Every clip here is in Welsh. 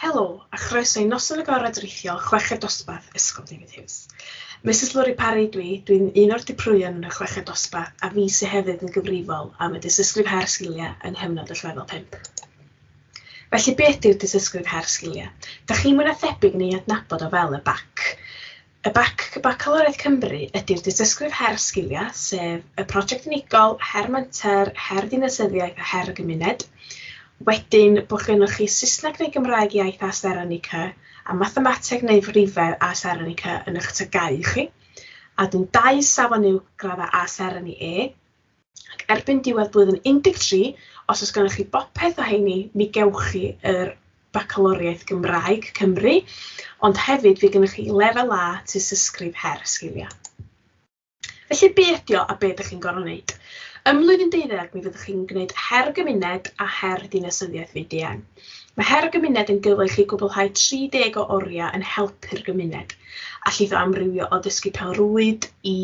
Helo, a chroeso i Noson Agored Rithiol Chweched Dosbarth Ysgol David Hughes. Misus Lori Parry dwi, dwi'n un o'r diprwyon yn y Chweched Dosbarth a fi sydd hefyd yn gyfrifol am y dysysgrif her sgiliau yng nghyfnod y lefel 5. Felly beth yw dysysgrif her sgiliau? Da chi'n mwy na thebyg yn ei adnabod o fel y BAC. Y bac Bacalwriaeth Cymru ydy'r dystysgrif Her Sgiliau, sef y prosiect unigol, her menter, her ddinasyddiaeth a her y gymuned. Wedyn, bod gennych chi Saesneg neu Gymraeg iaith a seren y cy, a mathemateg neu frifedd a seren y cy yn eich tygau chi. A wedyn dau safon uwch graddau A seren i E. ac erbyn diwedd blwyddyn 13, os oes gennych chi bopeth o heini, mi gewch chi yr Bacaloriaeth Gymraeg Cymru, ond hefyd fi gennych chi lefel A tystysgrif her y sgiliau. Felly be ydio a be ydych chi'n gorfod wneud? Ym mlwyddyn deuddeg mi fyddwch chi'n gwneud her gymuned a her dinasyddiaeth VDM. Mae Her y Gymuned yn gyfaill i gwblhau 30 o oriau yn helpu'r gymuned, a llithro amrywio o ddysgu pêl-rwyd i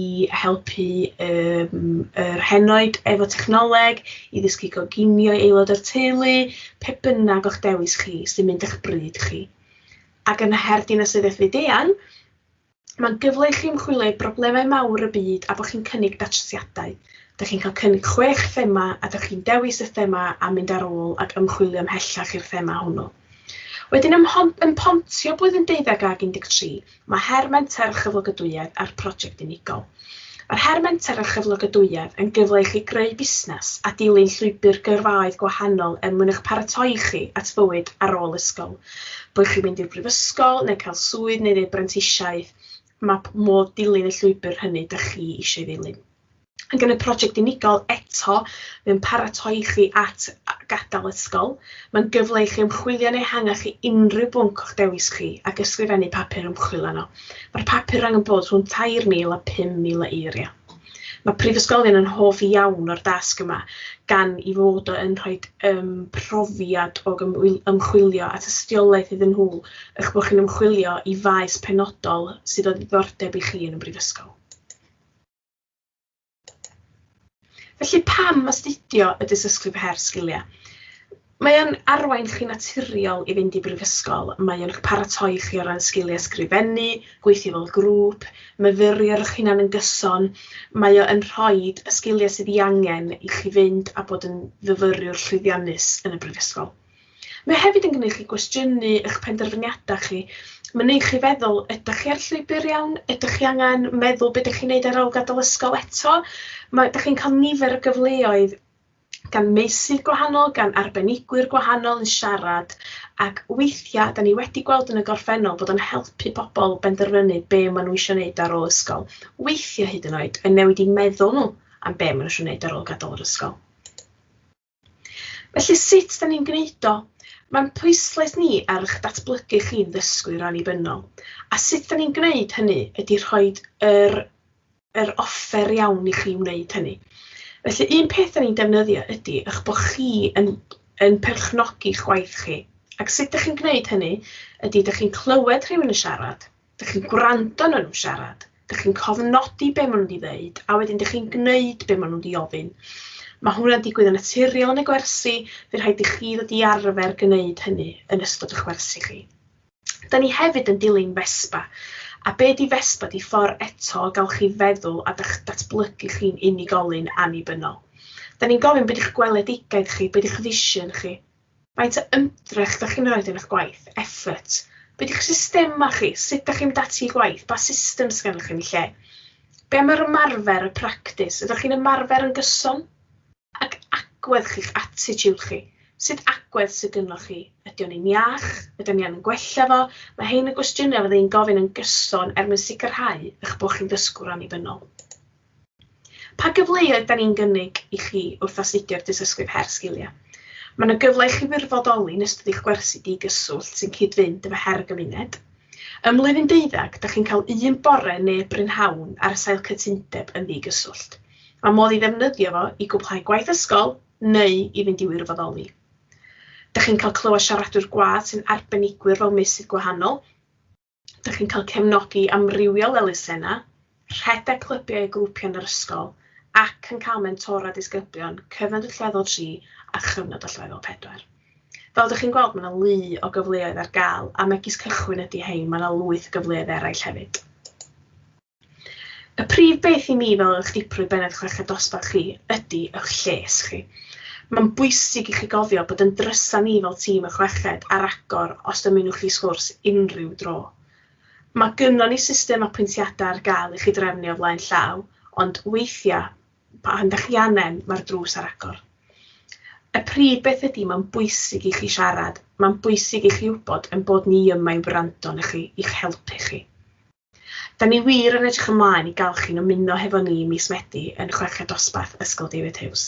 helpu um, yr henoed efo technoleg, i ddysgu goginio i aelod o'r teulu, pe bynnag o'ch dewis chi sy'n mynd â'ch bryd chi. Ac yn Her Dinasyddiaeth Fyd-eang, Mae'n gyfle i chi ymchwilio i broblemau mawr y byd a bod chi'n cynnig datrysiadau. Dych chi'n cael cynnig chwech thema a dych chi'n dewis y thema a mynd ar ôl ac ymchwilio ymhellach i'r thema hwnnw. Wedyn ym, ym Pontio blwyddyn deuddeg ag 13, mae her menter a chyflogadwyedd a'r prosiect unigol. Mae'r Her Menter a Chyflogadwyedd yn gyfle i chi greu busnes a dilyn llwybr gyrfaoedd gwahanol er mwyn eich paratoi chi at fywyd ar ôl ysgol. Boed chi'n mynd i'r brifysgol neu cael swydd neu wneud brentisiaeth, mae modd dilyn y llwybr hynny dych chi eisiau ei ddilyn. Ac yn y prosiect unigol eto, mae'n paratoi chi at gadael ysgol. Mae'n gyfle i chi ymchwilio'n ehangach i unrhyw bwnc o'ch dewis chi ac ysgrifennu papur ymchwil arno. Mae'r papur angen bod rhwng 3,000 a 5,000 o eiriau. Mae prifysgolion yn hoff iawn o'r dasg yma, gan i fod o yn rhoi um, profiad o ymchwilio at ystiolaeth iddyn nhw, eich bod chi'n ymchwilio i faes penodol sydd o ddiddordeb i chi yn y brifysgol. Felly pam astudio y dysysgrif her sgiliau? Mae o'n arwain chi naturiol i fynd i brifysgol, mae o'n paratoi chi o ran sgiliau sgrifennu, gweithio fel grŵp, myfyrio'ch hunan yn gyson, mae o yn rhoi y sgiliau sydd ei angen i chi fynd a bod yn fyfyriwr llwyddiannus yn y brifysgol. Mae hefyd yn gwneud chi gwestiynu eich penderfyniadau chi, mae'n gwneud chi feddwl, ydych chi ar llwybr iawn, ydych chi angen meddwl beth ydych chi'n gwneud ar ôl gadael ysgol eto, mae, ydych chi'n cael nifer o gyfleoedd gan meysydd gwahanol, gan arbenigwyr gwahanol yn siarad, ac weithiau, da ni wedi gweld yn y gorffennol bod o'n helpu pobl benderfynu be maen nhw eisiau gwneud ar ôl ysgol. Weithiau hyd yn oed yn newid i meddwl nhw am be maen nhw eisiau gwneud ar ôl gadael yr ysgol. Felly sut da ni'n gwneud o? Mae'n pwyslais ni ar eich datblygu chi'n ddysgwyr annibynnol, a sut da ni'n gwneud hynny ydy rhoi yr, yr offer iawn i chi wneud hynny. Felly un peth da ni'n defnyddio ydy eich bod chi yn, yn perchnogi chwaith chi. Ac sut da chi'n gwneud hynny ydy da chi'n clywed rhywun yn siarad, Dych chi'n gwrando na nhw siarad, dych chi'n cofnodi be maen nhw wedi ddeud, a wedyn dych chi'n gwneud be maen nhw wedi ofyn. Mae hwnna'n digwydd yn naturiol yn y gwersi, fe rhaid i chi ddod i arfer gwneud hynny yn ystod y chwersi chi. Da ni hefyd yn dilyn Vespa, a be di Vespa di ffordd eto o gael chi feddwl a dych datblygu chi'n unigolyn annibynnol. Da ni'n gofyn beth yw'ch gweledigaeth chi, beth yw'ch vision chi, Faint o ymdrech dach chi'n roid yn eich gwaith? Effort. Be di'ch systemau chi? Sut dach chi'n mynd ati i gwaith? Pa system sydd gennych chi yn y lle? Be am yr ymarfer, y practis? Ydych chi'n ymarfer yn gyson? Ac agwedd chi'ch attitude chi? Sut agwedd sydd gynnoch chi? Ydy o'n un iach? Ydyn ni angen gwella fo? Mae hein yn gwestiynau fydda i'n gofyn yn gyson er mwyn sicrhau eich bod chi'n ddysgwr annibynnol. Pa gyfleoedd da ni'n gynnig i chi wrth astudio'r Dystysgrif Her Sgiliau? Mae yna gyfle i chi wirfoddoli yn ystod eich gwersi digyswllt sy'n cyd-fynd efo her y gymuned. Ym mlwyddyn deuddag, da chi'n cael un bore neu brynhawn ar y sail cytundeb yn ddigyswllt. Mae modd i ddefnyddio fo i gwblhau gwaith ysgol neu i fynd i wirfoddoli. Da chi'n cael clywed siaradwyr gwadd sy'n arbenigwyr fel meysydd gwahanol. Dych chi'n cael cefnogi amrywiol elusennau, rhedeg clybiau a grwpiau yn yr ysgol ac yn cael mentora disgyblion, cyfnod allweddol 3 a chyfnod allweddol 4. Fel ydych chi'n gweld, mae yna lu o gyfleoedd ar gael, a megis cychwyn ydy hein, mae yna lwyth o gyfleoedd eraill hefyd. Y prif beth i mi fel eich diprwy bennaeth chweched dosbarth chi ydy eich lles chi. Mae'n bwysig i chi gofio bod yn drysa ni fel tîm y chweched ar agor os dymunwch chi sgwrs unrhyw dro. Mae gynnon ni system apwyntiadau ar gael i chi drefnu o flaen llaw, ond weithiau, pan da chi angen, mae'r drws ar agor. Y prif beth ydy mae'n bwysig i chi siarad, mae'n bwysig i chi wybod ein bod ni yma i wrando arnoch chi, i'ch helpu chi. Da ni wir yn edrych ymlaen i gael chi'n ymuno hefo ni mis Medi yn Chweched Dosbarth Ysgol David Huws.